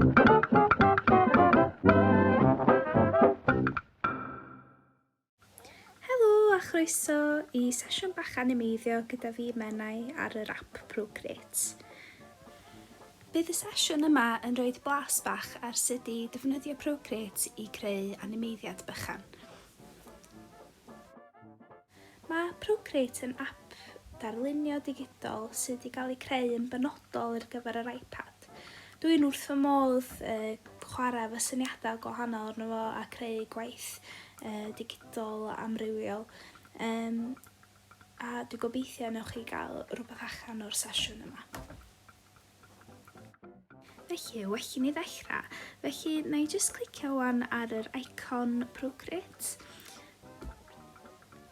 Helo a chroeso i sesiwn bach animeiddio gyda fi Menai ar yr app Procreate. Bydd y sesiwn yma yn rhoi blas bach ar sut i ddefnyddio Procreate i creu animeiddiad bychan. Mae Procreate yn ap darlunio digidol sydd wedi cael ei creu yn benodol ar gyfer yr iPad. Dw i'n wrth fy modd uh, chwarae fy syniadau gwahanol arno fo a creu gwaith uh, digidol amrywiol. Um, a dwi'n gobeithio newch chi gael rhywbeth allan o'r sesiwn yma. Felly, well i ni ddechrau. Felly, na i jyst clicio wan ar yr icon Procreate.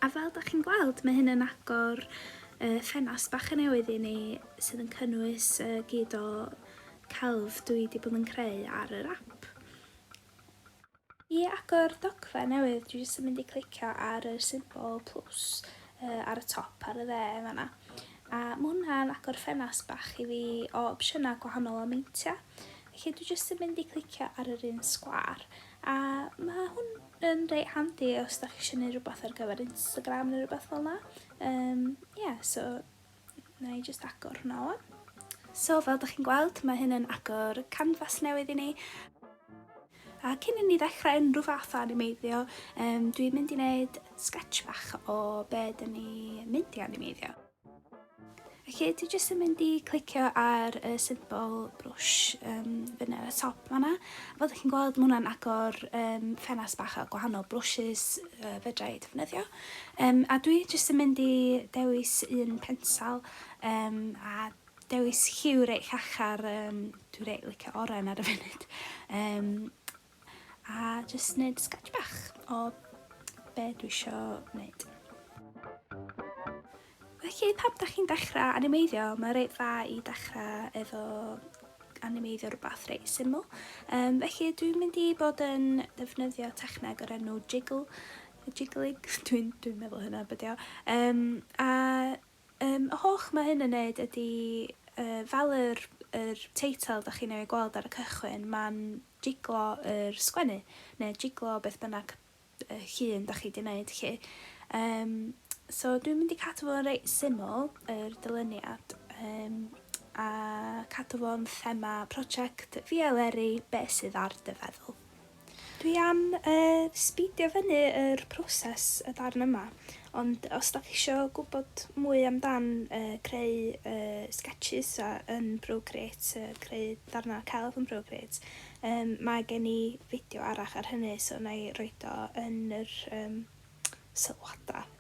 A fel da chi'n gweld, mae hyn yn agor uh, ffenas bach yn newydd i ni sydd yn cynnwys uh, gyd o celf dwi wedi bod yn creu ar yr app. I agor dogfen newydd dwi jyst yn mynd i clicio ar y symbol plus uh, ar y top ar y dde yn fanna. A mae hwnna'n agor ffenast bach i fi o opsiynau gwahanol o meintiau. Felly dwi jyst yn mynd i clicio ar yr un sgwar. A mae hwn yn reit handi os da chi eisiau gwneud rhywbeth ar gyfer Instagram neu rhywbeth fel yna. Um, yeah, so Wna i jyst agor hwnna wan. So fel dych chi'n gweld mae hyn yn agor canfas newydd i ni. A cyn i ni ddechrau unrhyw fath o animeiddio um, dwi'n mynd i wneud sketch bach o be dyn ni mynd i animeiddio. Felly dwi jyst yn mynd i clicio ar y symbol brwsh um, fyny ar y top fanna. Fel ydych chi'n gweld, mae hwnna'n agor um, ffenast bach a gwahanol brwsys uh, fedra i ddefnyddio. Yym a dwi jyst yn mynd i dewis un pensel yym a dewis lliw reit llachar yym dwi reit licio oren ar y funud yym a jyst neud sketch bach o be dwi isio neud. Felly pam da chi'n dechrau animeiddio mae reit dda i dechrau efo animeiddio rhywbeth reit syml um, felly dwi'n mynd i bod yn defnyddio techneg o'r enw jiggle jiggling dwi'n dwi'n meddwl hynna be' 'di o. Yym a yym y holl ma' hyn yn neud ydi yy fel yr yr teitl 'dach chi'n ei gweld ar y cychwyn ma'n jiglo yr sgwennu ne' jiglo beth bynnag yy llun 'dach chi 'di neud 'lly. Yym so dwi'n mynd i cadw fo'n reit syml yr dyluniad yym a cadw fo'n thema project fi a Leri be' sydd ar dy feddwl? Dwi am yy sbeidio fyny yr proses y darn yma, ond os dach chi isio gwybod mwy amdan yy creu yy sketches a yn Procreate yy creu darnau celf yn Procreate yym mae gen i fideo arall ar hynny so wna i roid o yn yr yym sylwadau.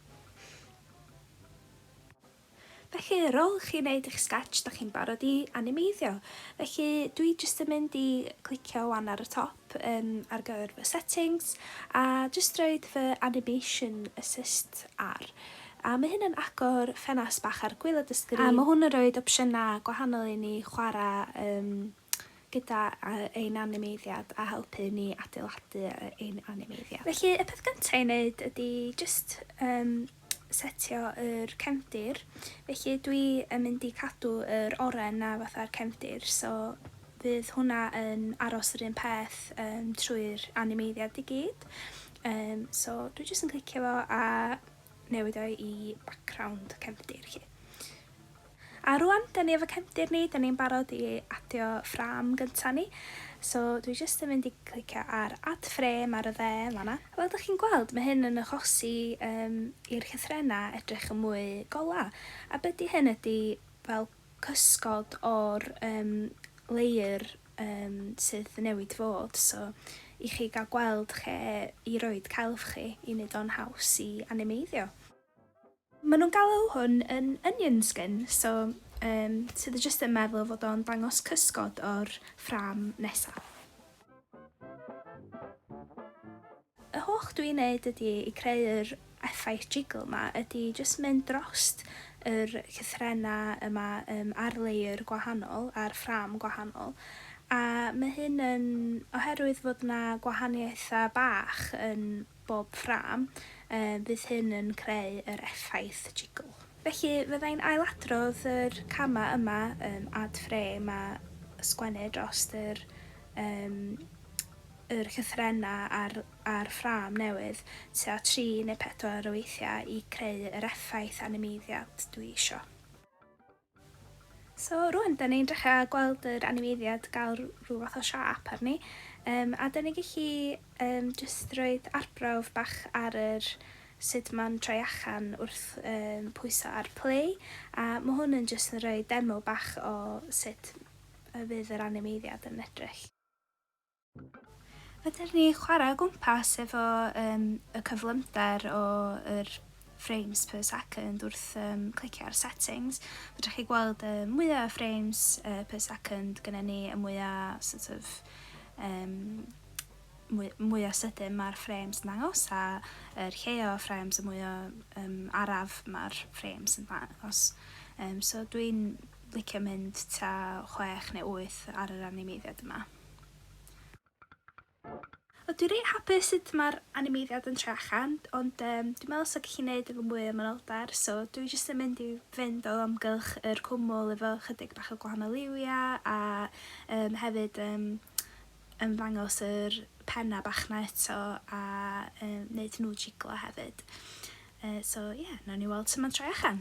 Felly ar ôl chi wneud eich sketch da chi'n barod i animeiddio. Felly dwi jyst yn mynd i clicio wan ar y top um, ar gyfer fy settings a jyst roed fy animation assist ar. A mae hyn yn agor ffenast bach ar gwylod y sgrin a mae hwn yn roed opsiynau gwahanol i ni chwarae um, gyda ein animeiddiad a helpu ni adeiladu ein animeiddiad. Felly y peth gyntaf i wneud ydy jyst um, setio yr cefndir. Felly dwi yn mynd i cadw yr oren na fatha'r cefndir, so fydd hwnna yn aros yr un peth um, trwy'r animeiddiad i gyd. Um, so dwi jyst yn clicio fo a newid o i background cefndir chi. A rŵan, dan ni efo cefndir ni, dan ni'n barod i adio ffrâm gynta ni, so dwi jyst yn mynd i glicio ar Add Frame ar y dde yn fan'na. Fel dach chi'n gweld, mae hyn yn achosi yym i'r llythrennau edrych yn mwy golau, a be' 'di hyn ydi fel cysgod o'r yym layer yym sydd newid fod, so i chi gael gweld lle i roid celf chi i neud o'n haws i animeiddio. Mae nhw'n galw hwn yn onion skin, so um, sydd y jyst yn meddwl fod o'n dangos cysgod o'r ffram nesaf. Y holl dwi'n neud ydy i creu yr effaith jiggle yma, ydy jyst mynd drost yr cythrena yma um, ar layer gwahanol, ar ffram gwahanol, a mae hyn yn oherwydd fod yna gwahaniaethau bach yn bob ffrâm, fydd hyn yn creu yr effaith jigl. Felly, fydda i'n ailadrodd yr camau yma, add frame a sgwennu dros yr yr llythrennau a'r a'r ffrâm newydd tua tri neu pedwar o weithiau i creu yr effaith animeiddiad dwi isio. So rwan da ni'n dechra gweld yr animeiddiad gael rhyw fath o siâp arni um, a da ni gallu um, just roed arbrawf bach ar yr sut mae'n troi achan wrth um, pwyso ar play a mae hwn yn just yn rhoi demo bach o sut y fydd yr animeiddiad yn edrych. Fedar ni chwarae o gwmpas efo um, y cyflymder o yr frames per second wrth um, clicio ar settings. Fedrwch chi gweld y uh, mwyaf frames uh, per second gyda ni, y mwyaf sort of, um, mwy, mwy o sydyn mae'r frames yn dangos a yr lle o frames y mwy o um, araf mae'r frames yn dangos. Um, so dwi'n licio mynd ta 6 neu 8 ar yr animeiddiad yma. O dwi reit hapus sut ma'r animeiddiad yn troi allan ond yym dwi'n meddwl 'sa gallu neud efo mwy o manylder so dwi jyst yn mynd i fynd o amgylch yr cwmwl efo chydig bach o gwahanol liwia a yym hefyd yym ymddangos yr penna bach 'na eto a yy neud nhw jiglo hefyd yy so ie nawn ni weld su' ma'n troi allan.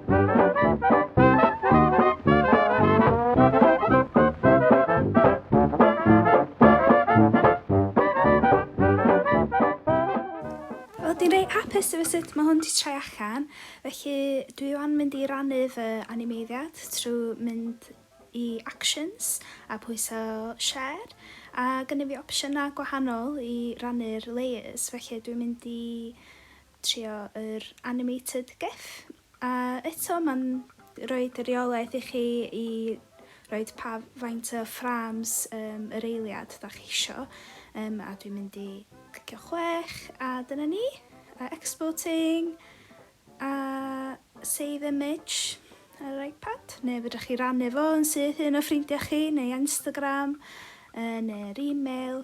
hapus efo sut mae hwn wedi troi allan, felly dwi o'n mynd i rannu fy animeiddiad trwy mynd i actions a pwyso share a gynnu fi opsiynau gwahanol i rannu'r layers, felly dwi'n mynd i trio yr animated gif a eto mae'n rhoid y reolaeth i chi i roed pa faint o frames um, yr eiliad da chi isio um, a dwi'n mynd i clicio chwech a dyna ni a exporting a save image ar yr iPad neu fydrwch chi rannu fo yn syth un o ffrindiau chi neu Instagram uh, neu'r e-mail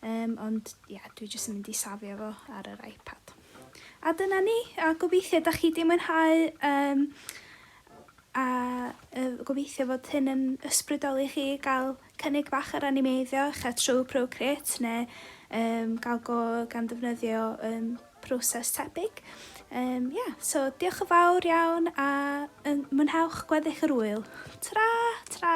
Yym, ond ia, dwi jyst yn mynd i safio fo ar yr iPad. A dyna ni, a gobeithio da chi di mwynhau um, a uh, gobeithio fod hyn yn ysbrydoli chi gael cynnig bach ar animeiddio eich a trwy Procreate neu um, gael go gan ddefnyddio um, proses tebyg. Um, yeah, so diolch yn fawr iawn a um, mwynhewch gweddill yr wyl. Tra, tra!